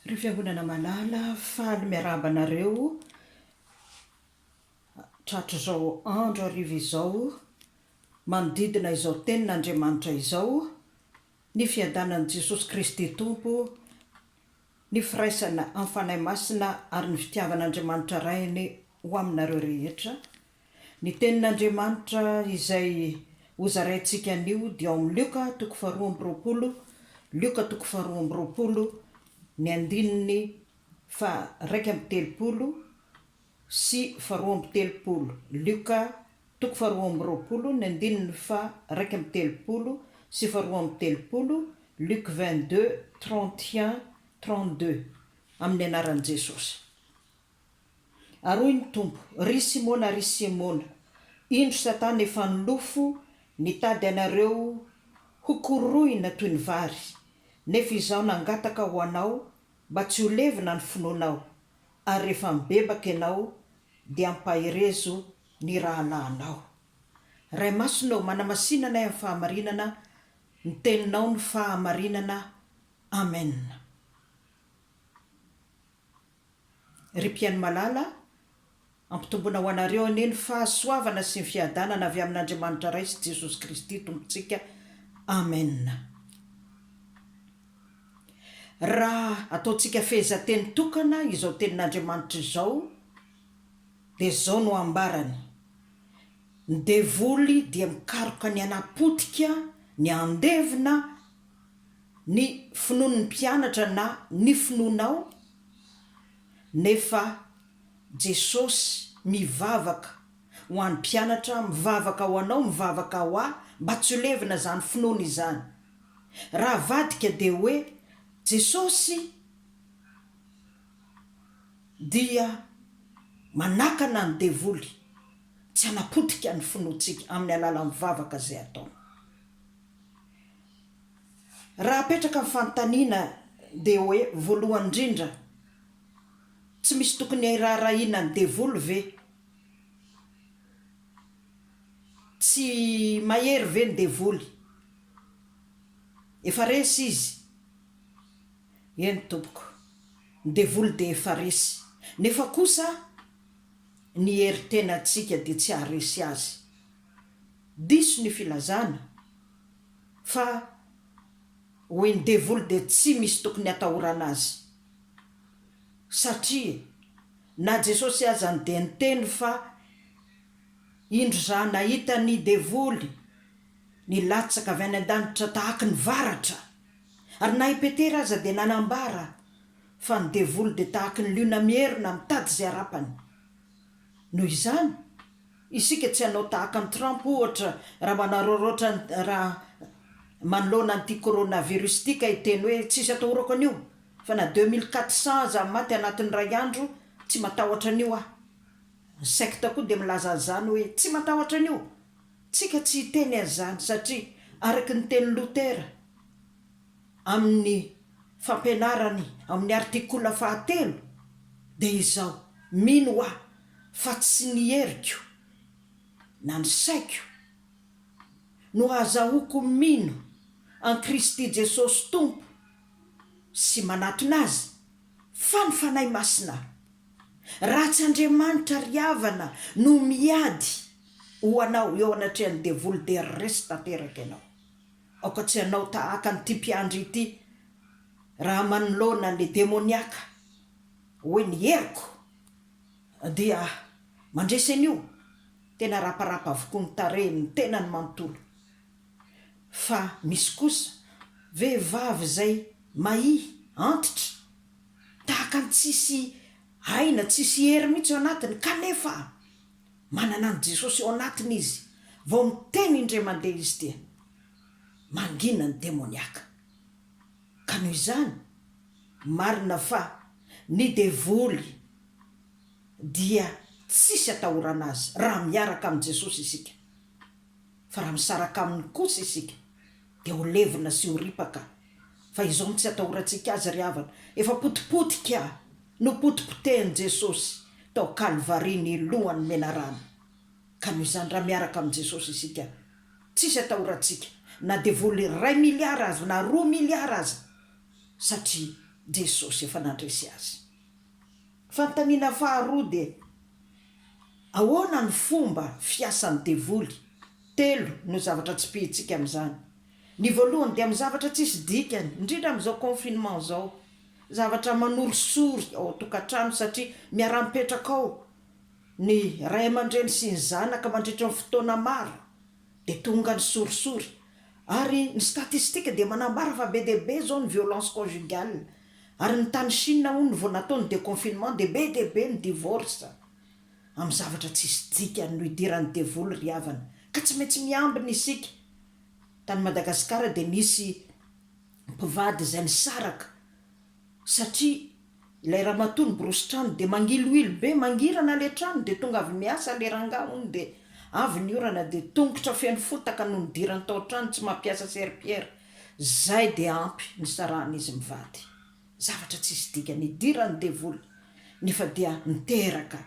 Ry fiangonana malala, faly miarahaba anareo tratrizao andro hariva izao, manodidina izao tenin' Andriamanitra izao, ny fiadanan'i Jesosy Kristy Tompo, ny firaisana amin'ny Fanahy Masina ary ny fitiavan'Andriamanitra Rainy ho aminareo rehetra. Ny Tenin'Andriamanitra izay hozaraintsika anio dia ao amin'ny Lioka toko faharoa amby roapolo, Lioka toko faharoa amby roapolo, ny andininy faharaika amby telopolo sy faharoa amby telopolo, Lioka toko faharoa amby roapolo, ny andininy faharaika amby telopolo sy faharoa amby telopolo, Luc vingt deux, trente et un, trente deux, amin'ny anaran'i Jesosy. Ary hoy ny Tompo, Ry Simona, ry Simona, indro Satana efa nilofo nitady anareo hokorohina toy ny vary, nefa Izaho nangataka ho anao mba tsy ho levona ny finoanao, ary rehefa mibebaka ianao, dia ampaherezo ny rahalahinao. Ray Masina ô, manamasina anay amin'ny fahamarinana, ny Teninao no fahamarinana. Amena. Ry mpihaino malala, ampitomboina ho anareo anie ny fahasoavana sy ny fiadanana avy amin'Andriamanitra Ray sy Jesosy Kristy Tompontsika. Amena. Raha ataontsika fehezanteny tokana izao tenin'Andriamanitra izao, dia izao no ambarany, Ny devoly dia mikaroka ny hanapotika, ny handevina, ny finoan'ny mpianatra na ny finoanao? Nefa Jesosy mivavaka ho an'ny mpianatra, mivavaka ho anao, mivavaka ho ahy mba tsy ho levona izany finoana izany. Raha avadika dia hoe Jesosy dia manakana ny devoly tsy hanapotika ny finoantsika amin'ny alalan'ny vavaka izay ataony. Raha apetraka ny fanontaniana dia hoe, voalohany indrindra, tsy misy tokony hiraharahiana ny devoly ve? Tsy mahery ve ny devoly? Efa resy izy? Eny tompoko, ny devoly dia efa resy, nefa kosa ny hery tenantsika dia tsy haharesy azy. Diso ny filazana. Fa hoy ny devoly dia tsy misy tokony hatahorana azy. Satria na Jesosy azany dia niteny fa indro za nahita ny devoly nilatsaka avy any an-danitra tahaky ny varatra. Ary na i Petera aza dia nanambara fa ny devoly dia tahaky ny liona mierona mitady izay harapany. Noho izany. Isika tsy hanao tahaka an'i Trump ohatra raha manaraoraotra raha manoloana an'ity coronavirus ity ka hiteny hoe tsisy atahorako an'io fa na deux mille quatre cent aza maty anatin'ny iray andro tsy matahotra an'io aho. Ny secte koa dia milaza an'izany hoe tsy matahotra an'io. Tsika tsy hiteny an'izany satria araka ny tenin'i Lotera amin'ny fampianarany ao amin'ny artikola fahatelo dia izao, mino aho fa tsy ny heriko na ny saiko no hahazahoako mino an'i Kristy Jesosy Tompo sy manatona Azy, fa ny Fanahy Masina. Raha tsy Andriamanitra ry havana no miady ho anao eo anatrehan'ny devoly dia resy tanteraka ianao. Aoka tsy hanao tahaka an'ity mpiandry ity raha manoloana ny demoniaka hoe ny heriko, Dia mandresy an'io, tena raparapa avokoa ny tarehin'ny tenany manontolo. Fa misy kosa vehivavy izay mahia, antitra, tahaka ny tsisy aina, tsisy hery mihitsy eo anatiny, kanefa manana an'i Jesosy eo anatiny izy, vao miteny indray mandeha izy dia mangina ny demoniaka. Ka noho izany, marina fa ny devoly dia tsisy atahorana azy raha miaraka amin'i Jesosy isika. Fa raha misaraka aminy kosa isika dia ho levona sy ho ripaka. Fa izao no tsy atahorantsika azy ry havana, efa potipotika nopotipotehin'i Jesosy tao Kalvary ny lohany menarana. Ka noho izany, raha miaraka amin'i Jesosy isika, Tsisy atahorantsika na dia vola iray miliara aza na roa miliara aza satria Jesosy efa nandresy azy. Fanontaniana faharoa dia, Ahoana no fomba fiasan'ny devoly? Telo no zavatra tsipihintsika amin'izany. Ny voalohany dia amin'ny zavatra tsisy dikany, indrindra amin'izao confinement izao. Zavatra manorisory ao an-tokantrano satria miara-mipetraka ao ny ray aman-dreny sy ny zanaka mandritra ny fotoana maro dia tonga ny sorisory ary ny statistika dia manambara fa be dia be izao ny violence conjugale ary ny tany Chine hono vao natao ny deconfinement dia be dia be ny divorce amin'ny zavatra tsisy dikany no idiran'ny devoly ry havana ka tsy maintsy miambina isika tany Madagasikara dia nisy mpivady izay nisaraka satria ilay ramatoa niborosy trano dia mangiloilo be, mangirana ilay trano dia tonga avy miasa ilay rangahy hono dia avy ny orana dia tongotra feno fotaka no nidirany tao an-trano tsy mampiasa serpillère, izay dia ampy nisarahana izy mivady, zavatra tsisy dikany idiran'ny devoly nefa dia niteraka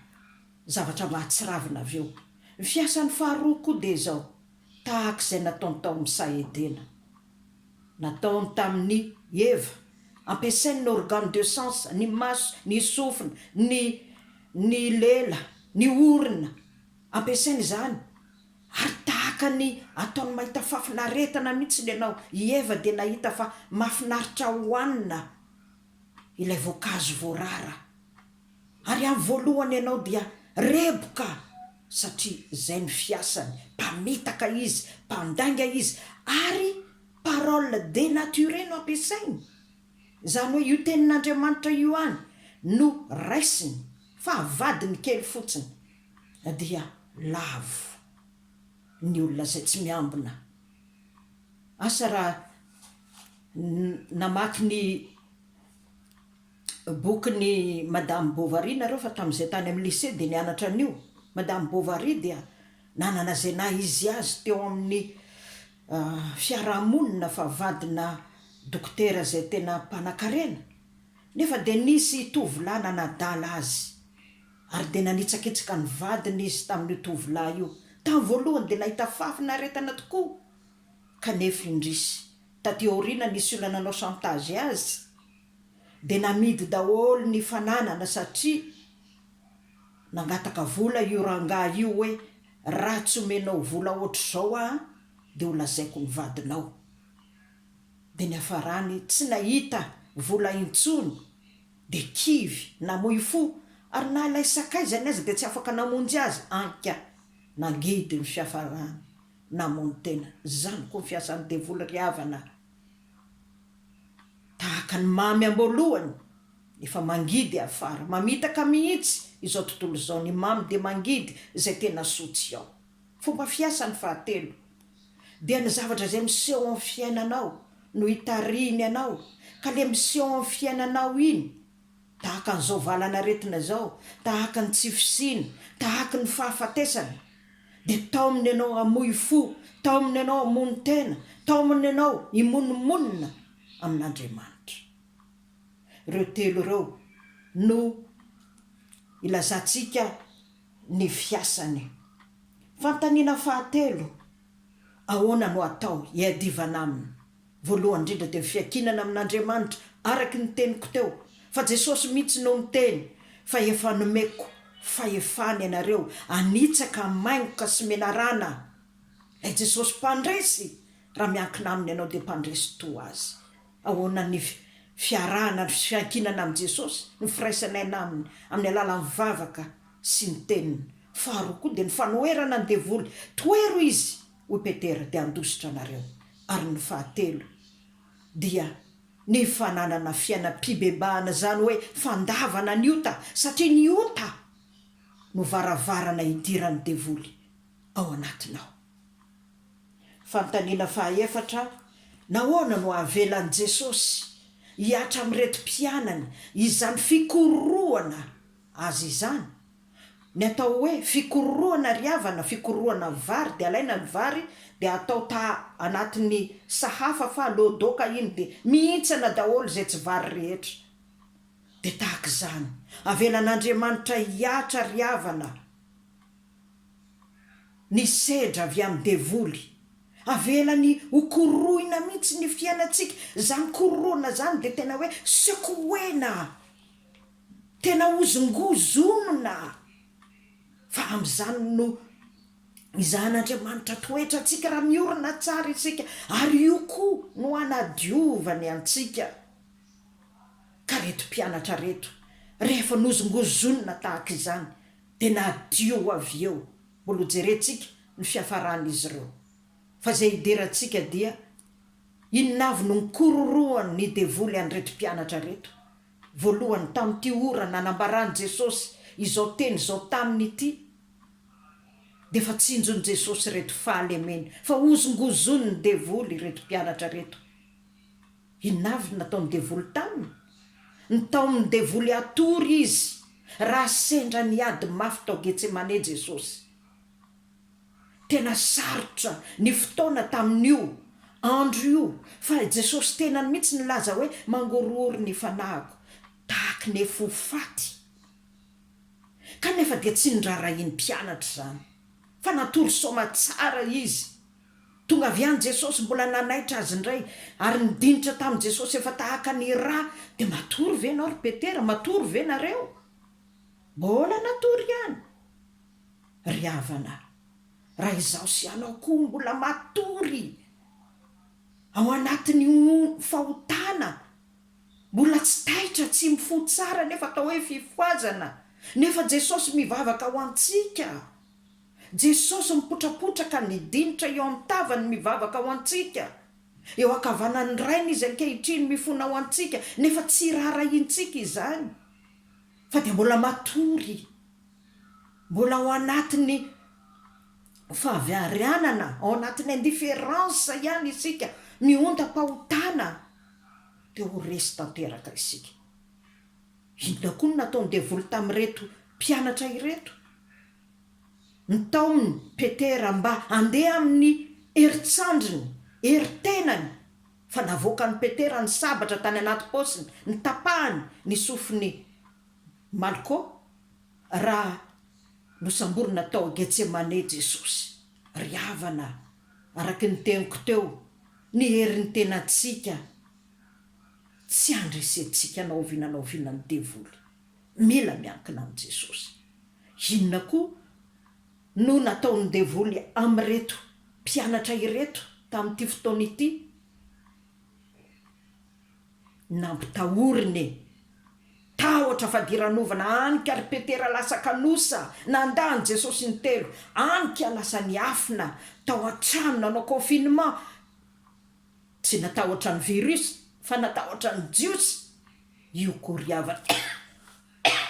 zavatra mahatsiravina avy eo, ny fiasan'ny faharoa koa dia izao, tahaka izay nataony tao amin'ny saha Edena. Nataony tamin'i Eva. Ampiasainy ny organes de sens, ny maso, ny sofina, ny ny lela, ny orona. Ampiasainy izany. Ary tahaka ny ataony mahita fafinaretana mihitsy ny anao, i Eva dia nahita fa mahafinaritra hohanina. ilay voankazo voarara ary amin'ny voalohany ianao dia reboka satria izay no fiasany, mpamitaka izy, mpandainga izy ary parole denaturee no ampiasainy, izany hoe io tenin'Andriamanitra io ihany no raisiny fa vadiny kely fotsiny dia lavo ny olona izay tsy miambina, asa raha Namaky ny bokin'i Madame Bovary nareo fa tamin'izay tany amin'ny lycée dia nianatra an'io. Madame Bovary dia nanana izay naha izy azy teo amin'ny fiaraha-monina fa vadina dokotera izay tena mpanakarena. Nefa dia nisy tovolahy nanadala azy ary dia nanitsakitsaka ny vadiny izy tamin'io tovolahy io. Tamin'ny voalohany dia nahita fahafinaretana tokoa. Kanefa indrisy, taty aoriana nisy olona nanao chantage azy dia namidy daholo ny fananana satria nangataka vola io rangahy io hoe raha tsy omenao vola hoatr'izao aho dia ho lazaiko ny vadinao. Dia niafarany tsy nahita vola intsony dia kivy, namoy fo ary na ilay sakaizany aza dia tsy afaka namonjy azy, anka nangidy ny fiafarany. namono tena. Zany koa ny fiasan'ny devoly ry havana a! Tahaka ny mamy amboalohany efa mangidy afara, mamitaka mihitsy izao tontolo izao ny mamy dia mangidy izay tena soa tsy ao. Fomba fiasany fahatelo dia ny zavatra izay miseho amin'ny fiainanao no itarihiny anao ka le miseho amin'ny fiainanao iny, Tahaka an'izao valan'aretina izao, tahaka ny tsy fisiana, tahaky ny fahafatesana. Dia taomina ianao hamoy fo, taomina ianao hamono tena, taomina ianao himonomonona amin'Andriamanitra. Ireo telo ireo no ilazantsika ny fiasany. Fanontaniana fahatelo, Ahoana no atao hiadivana aminy? Voalohany indrindra dia ny fiankinana amin'Andriamanitra araka ny teniko teo fa Jesosy mihitsy no niteny fa efa nomeko fahefana ianareo hanitsaka hamaingoka sy menarana Ilay Jesosy mpandresy raha miankina aminy ianao dia mpandresy toa azy Ahoana ny fiarahana sy fiankinana amin'i Jesosy ny firaisanay na aminy amin'ny alalan'ny vavaka sy ny teniny Faharoa koa dia ny fanoherana ny devoly Tohero izy hoy Petera dia handositra anareo, ary ny fahatelo dia ny fananana fiainam-pibebahana izany hoe fandavana ny ota satria ny ota no varavarana hidiran'ny devoly ao anatinao. Fanontaniana fahaefatra, Nahoana no havelan'i Jesosy hihatra amin'ireto mpianany izany fikorohana Azy izany? Ny atao hoe fikororohana ary havana, fikororohana vary dia alaina ny vary dia atao ta anatin'ny sahafa fa aleo doka iny dia mihintsana daholo izay tsy vary rehetra. Dia tahaka izany. Avelan'Andriamanitra hihatra ary havana ny sedra avy amin'ny devoly. Avelany ho korohina mihitsy ny fiainantsika. Izany kororohana izany dia tena hoe sekoena. Tena hozongozonina aho, fa amin'izany no izahan'Andriamanitra toetra antsika raha miorina tsara isika, ary io koa no hanadiovany antsika. Ka reto mpianatra reto, rehefa nozongozonina tahaka izany, dia nadio avy eo, mbola ho jerentsika ny fiafaran'izy ireo. Fa izay idirantsika dia, inona avy no nikororohan'ny devoly an'ireto mpianatra ireto? Voalohany, tamin'ity ora nanambaran'i Jesosy izao teny izao taminy ity, dia efa tsinjon'i Jesosy ireto fahalemeny fa hozongozonin'ny devoly ireto mpianatra ireto. Inona avy no nataon'ny devoly taminy? Nitaomin'ny devoly hatory izy raha sendra niady mafy tao Getsemane Jesosy. Tena sarotra ny fotoana tamin'io andro io fa i Jesosy tenany mihitsy nilaza hoe, Mangorohoro ny fanahiko tahaka ny fo faty. Kanefa dia tsy norarahian'ny mpianatra izany, fa natory soamatsara izy. Tonga avy any Jesosy, mbola nanaitra azy indray, ary nidinitra tamin'i Jesosy efa tahaka ny rà, dia matory ve ianao ry Petera? Matory ve nareo? Mbola natory ihany. ry havana raha izaho sy ianao koa mbola matory ao anatin'io fahotana mbola tsy taitra tsy mifoha tsara nefa atao hoe fifohazana nefa Jesosy mivavaka ho antsika Jesosy mipotrapotraka ny dinitra eo amin'ny tavany mivavaka ho antsika eo ankavanan'ny Rainy izy ankehitriny mifona ho antsika nefa tsy raharahiantsika izany fa dia mbola matory Mbola ao anatin'ny fahaviharianana, ao anatin'ny indifférence ihany isika, mihontam-pahotana, dia ho resy tanteraka isika. Inona koa no nataon'ny devoly tamin'ireto mpianatra ireto? Nitaominy Petera mba handeha amin'ny herin-tsandriny, herin-tenany, fa navoakan'i Petera ny sabatra tany anaty paosiny, nitapahany ny sofiny. Malko, Raha nosamborina tao Getsemane Jesosy, ry havana, araka ny teniko teo, ny herin'ny tenantsika, tsy handresentsika na oviana na oviana ny devoly. Mila miankina amin'i Jesosy. Inona koa no nataon'ny devoly amin'ireto mpianatra ireto tamin'ity fotoana ity? Nampitahoriny e! Tahotra fadiranovana any ka ry Petera lasa kanosa nandà an'i Jesosy intelo, any ka lasa niafina tao an-trano nanao confinement, tsy natahotra ny virus fa natahotra ny Jiosy, io koriavana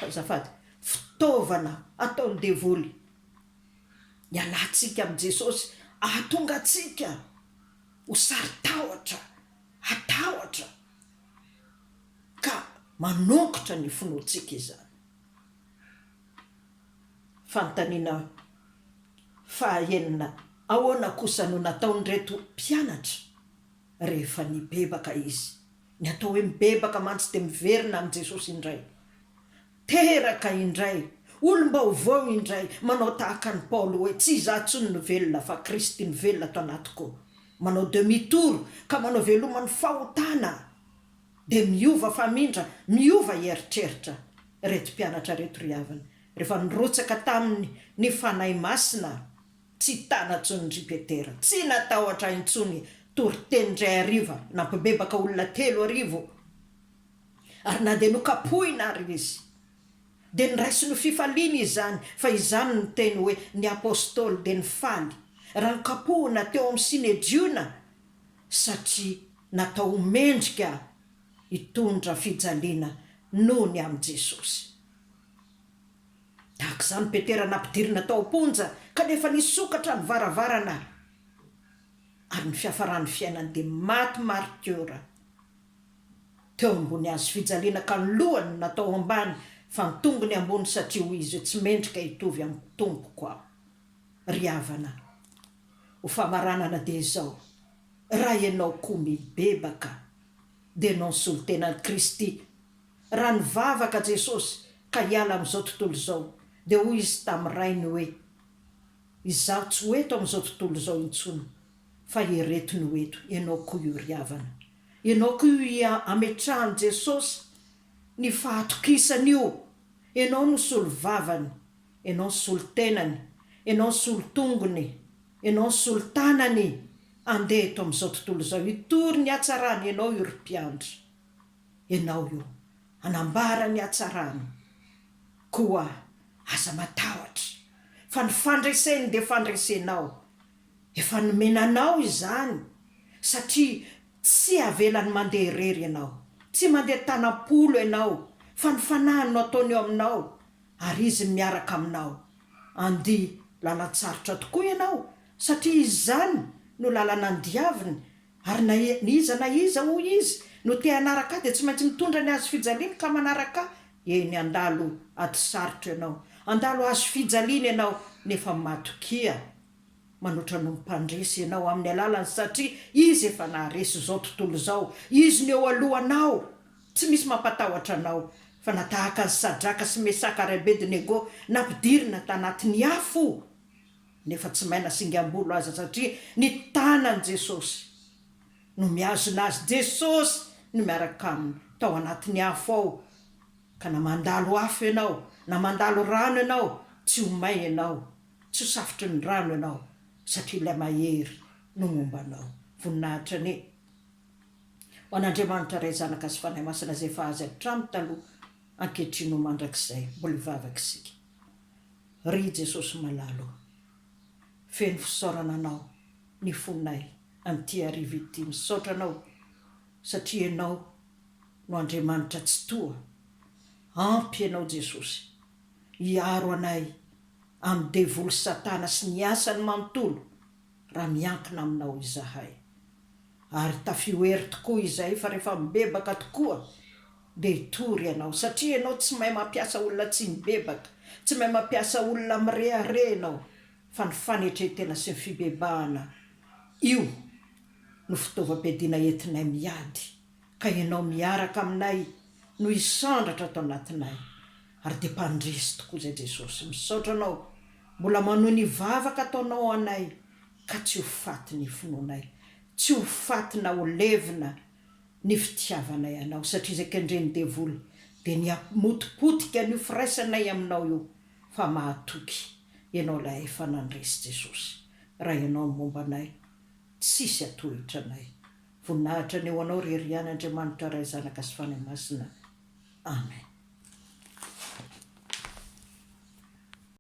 azafady, fitaovana ataon'ny devoly hialantsika amin'i Jesosy, ahatonga antsika ho saro-tahotra. hatahotra ka manongotra ny finoantsika izany. Fanontaniana fahaenina, Ahoana kosa no nataon'ireto mpianatra rehefa nibebaka izy? Ny atao hoe mibebaka mantsy dia miverina amin'i Jesosy indray. Teraka indray, olom-baovao indray, manao tahaka an'i Paoly hoe, Tsy izaho intsony no velona, fa Kristy no velona ato anatiko. Manao demi tour ka manao veloma ny fahotana, dia miova famindra, miova eritreritra. Ireto mpianatra ireto ry havana, rehefa nirotsaka taminy ny Fanahy Masina, tsy tana intsony ry Petera, tsy natahotra intsony. Toriteny indray hariva, nampibebaka olona telo arivo. Ary na dia nokapohina àry izy, dia niraisiny ho fifaliana izany, fa izany no teny hoe ny apostoly dia nifaly raha nokapohina teo amin'ny Synedriona, satria natao ho mendrika hitondra fijaliana noho ny amin'i Jesosy. Tahaka izany Petera nampidirina tao am-ponja, kanefa nisokatra ny varavarana, ary ny fiafaran'ny fiainany dia maty maritiora. teo ambony hazo fijaliana ka ny lohany no natao ambany fa ny tongony ambony satria hoy izy hoe tsy mendrika hitovy amin'ny tompoko aho. Ry havana, ho famaranana dia izao, raha ianao koa mibebaka dia nanosolo tena an'i Kristy. Raha nivavaka Jesosy ka hiala amin'izao tontolo izao dia hoy Izy tamin'ny Rainy hoe, Izaho tsy ho eto amin'izao tontolo izao intsony fa ireto no eto, ianao koa io ry havana, ianao koa io ia ametrahan'i Jesosy ny fahatokisany io, ianao no solovavany, ianao no solotenany, ianao no solotongony, ianao no solotanany, andeha eto amin'izao tontolo izao hitory ny hatsarany ianao io ry mpiandry, ianao io hanambara ny hatsarany, koa aza matahotra fa ny fandreseny dia fandresenao, Efa nomena anao izany satria tsy havelany mandeha irery ianao. Tsy mandeha tanam-polo ianao fa ny fanahiny no ataony eo aminao ary izy no miaraka aminao. Andia lalan-tsarotra tokoa ianao satria izany no lalana andiaviny ary na iza na iza hoy izy no te hanaraka ahy dia tsy maintsy mitondra ny hazo fijaliany ka manaraka ahy. Eny, handalo ady sarotra ianao, handalo hazo fijaliana ianao nefa matokia. Manoatra noho ny Mpandresy ianao amin'ny alalany satria Izy efa naharesy izao tontolo izao. Izy no eo alohanao. Tsy misy mampatahotra anao. Fa na tahaka an'i Sadraka sy Mesaka ary Abednego nampidirina tanatin'ny afo nefa tsy may na singam-bolo aza satria ny tanan'i Jesosy no mihazona azy. Jesosy no miaraka aminy tao anatin'ny afo ao. Ka na mandalo afo ianao na mandalo rano ianao tsy ho may ianao. Tsy ho safotry ny rano ianao satria ilay Mahery no momba anao. Voninahitra anie ho an'Andriamanitra Ray, Zanaka sy Fanahy Masina izay efa azy hatramin'ny taloha, ankehitriny ho mandrakizay. Mbola hivavaka isika. Ry Jesosy malala o, feno fisaorana Anao ny fonay amin'ity hariva ity. Misaotra Anao satria Ianao no Andriamanitra Tsitoha. Ampy Ianao Jesosy. hiaro anay amin'ny devoly Satana sy ny asany manontolo raha miankina aminao izahay. Ary tafio hery tokoa izay fa rehefa mibebaka tokoa dia hitory ianao satria ianao tsy mahay mampiasa olona tsy mibebaka, tsy mahay mampiasa olona mirehareha ianao fa ny fanetren-tena sy ny fibebahana io no fitaovam-piadiana entinay miady. Ka ianao miaraka aminay no hisandratra ato anatinay ary dia mpandresy tokoa izay Jesosy. Misaotra Anao mbola manohy ny vavaka ataonao ho anay ka tsy ho faty ny finoanay, tsy ho faty na ho levona ny fitiavanay Anao satria izay kendren'ny devoly dia ny hamotipotika an'io firaisanay Aminao io fa mahatoky Ianao ilay efa nandresy Jesosy. Raha Ianao no momba anay, tsisy hatohitra anay. Voninahitra anie ho anao ry Riana Andriamanitra Ray Zanaka sy Fanahy Masina Amen.